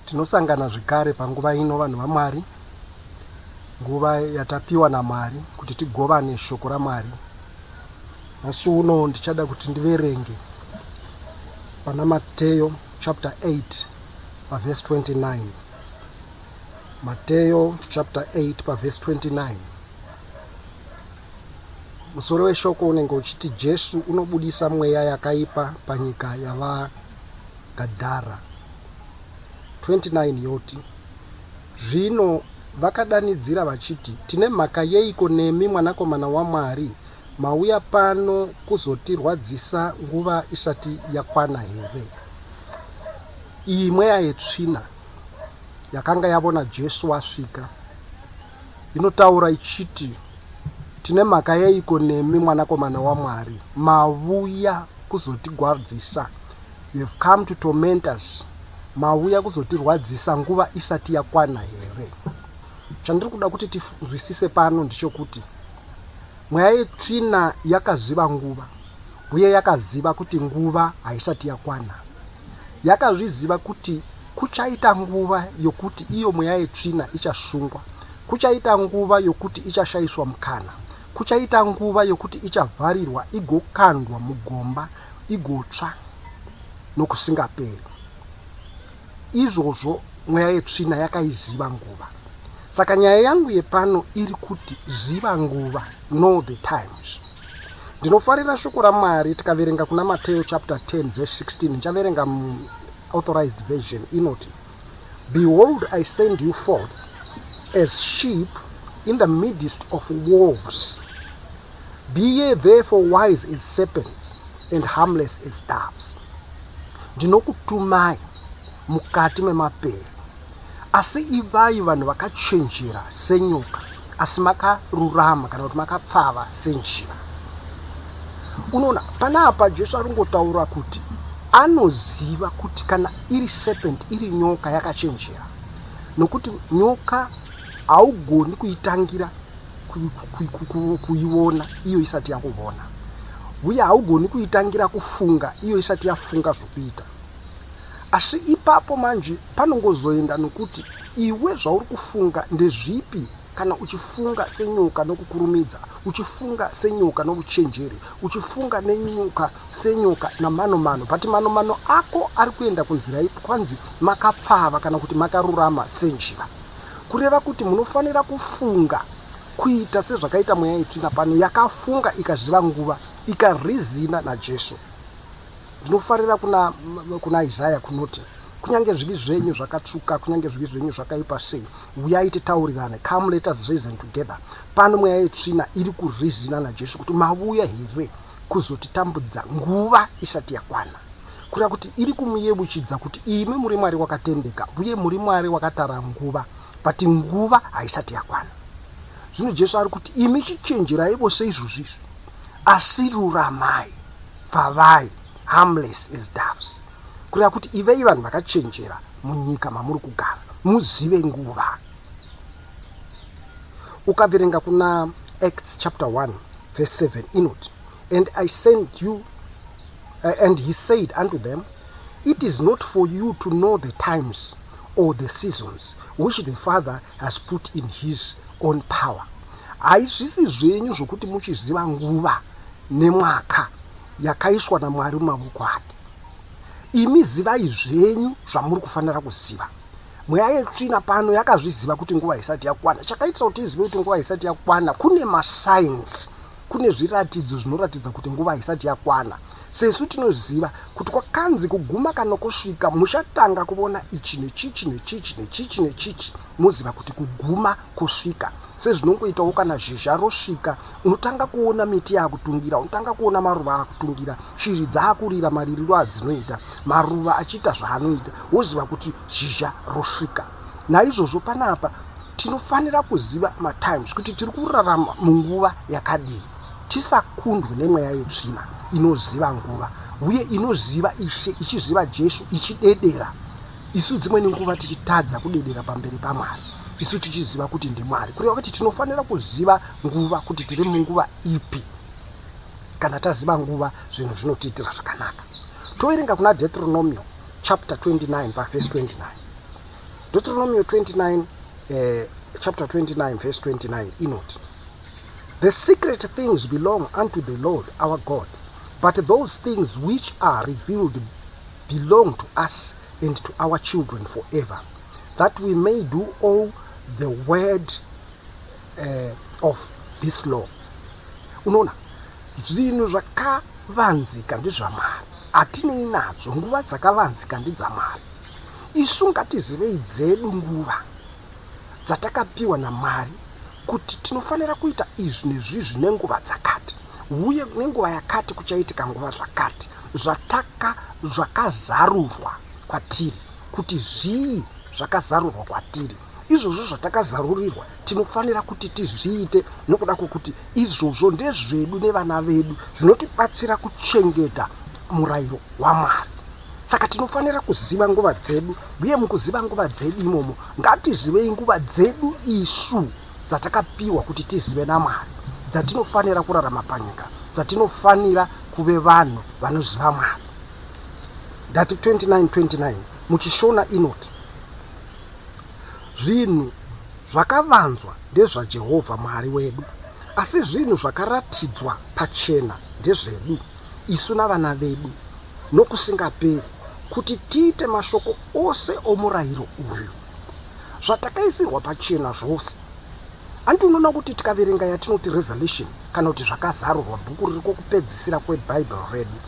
Tinosangana zvekare panguva ino vanhu vaMwari, nguva yatapiwa naMwari kuti tigovane shoko raMwari. Nhasi uno ndichada kuti ndiverenge pana Mateyo chapter 8 paverse 29. Mateyo chapter 8 paverse 29. Musoro weshoko unenge uchiti Jesu unobudisa mweya yakaipa panyika yava Gadara 29 yoti, Zvino vakadanidzira vachiti, Tine mhaka yeiko nemi, Mwanakomana waMwari? Mauya pano kuzotirwadzisa nguva isati yakwana here? Iyi mweya yetsvina yakanga yavona Jesu asvika. Inotaura ichiti, Tine mhaka yeiko nemi, Mwanakomana waMwari? Mavuya kuzotigwadzisa. You have come to torment us. Mavuya kuzotirwadzisa nguva isati yakwana here? Chandiri kuda kuti tinzwisise pano ndichokuti mweya yetsvina yakaziva nguva uye yakaziva kuti nguva haisati yakwana. Yakazviziva kuti Kuchaita nguva yokuti iyo mweya yetsvina ichasungwa. Kuchaita nguva yokuti ichashaiswa mukana. Kuchaita nguva yokuti ichavharirwa igokandwa mugomba igotsva nokusingaperi. Izvozvo mweya yetsvina yakaiziva nguva. Saka nyaya yangu yepano iri kuti ziva nguva, know the times. Ndinofarira shoko raMwari tikaverenga kuna Mateo chapter 10 verse 16 ndichaverenga Authorized version inoti, Behold, I send you forth as sheep in the midst of wolves. Be ye therefore wise as serpents and harmless as doves. Ndinokutumai mukati memapere Asi ivai vanhu vakachenjera senyoka, asi makarurama kana kuti makapfava senjiva. Unoona, pana apa Jesu ari kungotaura kuti anoziva kuti kana iri serpent iri nyoka yakachenjera nokuti nyoka haugoni kuitangira kuiona iyo isati yakuvona uye haugoni kuitangira kufunga iyo isati yafunga zvokuita Asi ipapo manje panongozoenda nokuti iwe zvauri kufunga ndezvipi kana uchifunga senyoka nokukurumidza, uchifunga senyoka nouchenjeri, uchifunga nenyoka senyoka namanomano, but manomano ako ari kuenda kunzira ipi? Kwanzi makapfava kana kuti makarurama senjiva. Kureva kuti munofanira kufunga kuita sezvakaita mweya yetsvina pano yakafunga ikaziva nguva, ikarizina naJesu. Ndinofarira kuna, kuna Isaya kunoti kunyange zvivi zvenyu zvakatsvuka kunyange zvivi zvenyu zvakaipa sei uyai titaurirane come let us reason together pano mweya yetsvina iri kurizina najesu kuti mavuya here kuzotitambudza nguva isati yakwana kureva kuti iri kumuyebuchidza kuti imi muri mwari wakatendeka uye muri mwari wakatara nguva but nguva haisati yakwana zvino jesu ari kuti imi chichenjerai vose izvozvizvi Asi ruramai, pfavai, harmless as doves, kureva kuti ivei vanhu vakachenjera munyika mamuri kugara, muzive nguva. Ukaverenga kuna Acts chapter 1 verse 7 inoti, And I sent you, uh, and he said unto them, It is not for you to know the times or the seasons which the Father has put in his own power. Haizvisi zvenyu zvokuti muchiziva nguva nemwaka yakaiswa naMwari mumavoko ake. Imi zivai zvenyu zvamuri kufanira kuziva. Mweya yetsvina pano yakazviziva kuti nguva isati yakwana. Chakaitisa kuti izive kuti nguva isati yakwana kune masainsi, kune zviratidzo zvinoratidza kuti nguva isati yakwana. Sesu tinoziva kuti kwakanzi kuguma kana kusvika muchatanga kuvona ichi nechichi nechichi nechichi nechichi moziva kuti kuguma kusvika sezvinongoitawo kana zhizha rosvika unotanga kuona miti yaakutungira unotanga kuona maruva aakutungira shiri dzaakurira maririro adzinoita maruva achiita zvaanoita woziva kuti zhizha rosvika naizvozvo panapa tinofanira kuziva matimes kuti tiri kurarama munguva yakadii tisakundwe nemweya yetsvina inoziva nguva uye inoziva ishe ichiziva jesu ichidedera isu dzimweni nguva tichitadza kudedera pamberi pamwari isu tichiziva kuti ndimwari kureva kuti tinofanira kuziva nguva kuti tiri munguva ipi kana taziva nguva zvinhu zvinotiitira zvakanaka toverenga kuna deuteronomio chapter 29 pavhesi 29 deuteronomio 29 eh, chapter 29 verse 29 inoti the secret things belong unto the lord our god but those things which are revealed belong to us and to our children forever that we may do all the word uh, of this law unoona zvinhu zvakavanzika ndezvamwari hatinei nazvo nguva dzakavanzika ndidzamwari isu ngatizivei dzedu nguva dzatakapiwa namwari kuti tinofanira kuita izvi nezvizvi nenguva dzakati uye nenguva yakati kuchaitika nguva zvakati zvataka zvakazarurwa kwatiri kuti zvii zvakazarurwa kwatiri izvozvo zvatakazarurirwa tinofanira kuti tizviite nokuda kwokuti izvozvo ndezvedu nevana vedu zvinotibatsira kuchengeta murayiro wamwari saka tinofanira kuziva nguva dzedu uye mukuziva nguva dzedu imomo ngatizivei nguva dzedu isu dzatakapiwa kuti tizive namwari dzatinofanira kurarama panyika dzatinofanira kuve vanhu vanoziva mwari ndati 2929 muchishona inoti zvinhu zvakavanzwa ndezvajehovha mwari wedu asi zvinhu zvakaratidzwa pachena ndezvedu isu navana vedu nokusingaperi kuti tiite mashoko ose omurayiro uyu zvatakaisirwa pachena zvose Hanti unoona kuti tikaverenga yatinoti Revelation kana kuti zvakazarurwa bhuku riri kokupedzisira kweBhaibheri redu,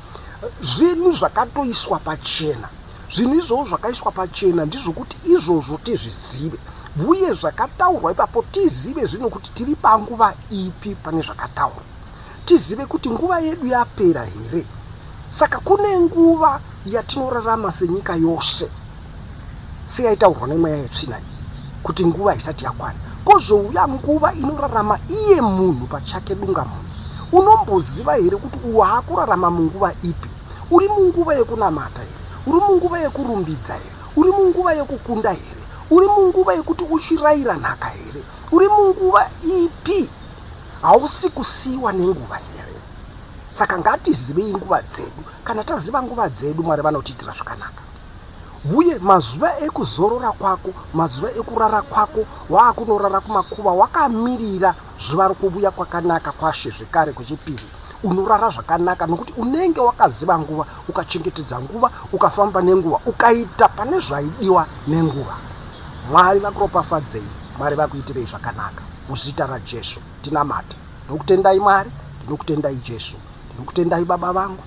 zvinhu zvakatoiswa pachena. Zvinhu izvozvo zvakaiswa pachena ndizvokuti izvozvo tizvizive, uye zvakataurwa ipapo tizive zvino kuti tiri panguva ipi pane zvakataurwa. tizive kuti nguva yedu yapera here saka kune nguva yatinorarama senyika yose seyaitaurwa nemweya yetsvina iyi kuti nguva haisati yakwana kozouya nguva inorarama iye munhu pachake dunga munhu unomboziva here kuti waakurarama munguva ipi uri munguva yekunamata here uri munguva yekurumbidza here uri munguva yekukunda here uri munguva yekuti uchirayira nhaka here uri munguva ipi Hausi kusiiwa nenguva here? Saka ngatizivei nguva dzedu. Kana taziva nguva dzedu, Mwari vanotiitira zvakanaka. Uye mazuva ekuzorora kwako, mazuva ekurara kwako, waakunorara kumakuva wakamirira zuva rokuvuya kwakanaka kwaShe zvekare kwechipiri unorara zvakanaka nokuti unenge wakaziva nguva ukachengetedza nguva ukafamba nenguva ukaita pane zvaidiwa nenguva mwari vakuropafadzei mwari vakuitirei zvakanaka Muzita raJesu tinamate. Ndinokutendai Mwari, ndinokutendai Jesu, ndinokutendai Baba vangu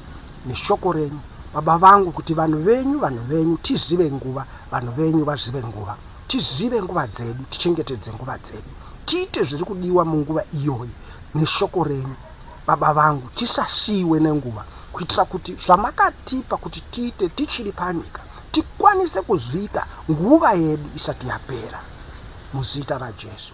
neshoko renyu Baba vangu kuti vanhu venyu vanhu venyu tizive nguva vanhu venyu vazive nguva tizive nguva dzedu tichengetedze nguva dzedu tiite zviri kudiwa munguva iyoyi neshoko renyu baba vangu tisasiyiwe nenguva kuitira kuti zvamakatipa kuti tiite tichiri panyika tikwanise kuzviita nguva yedu isati yapera muzita rajesu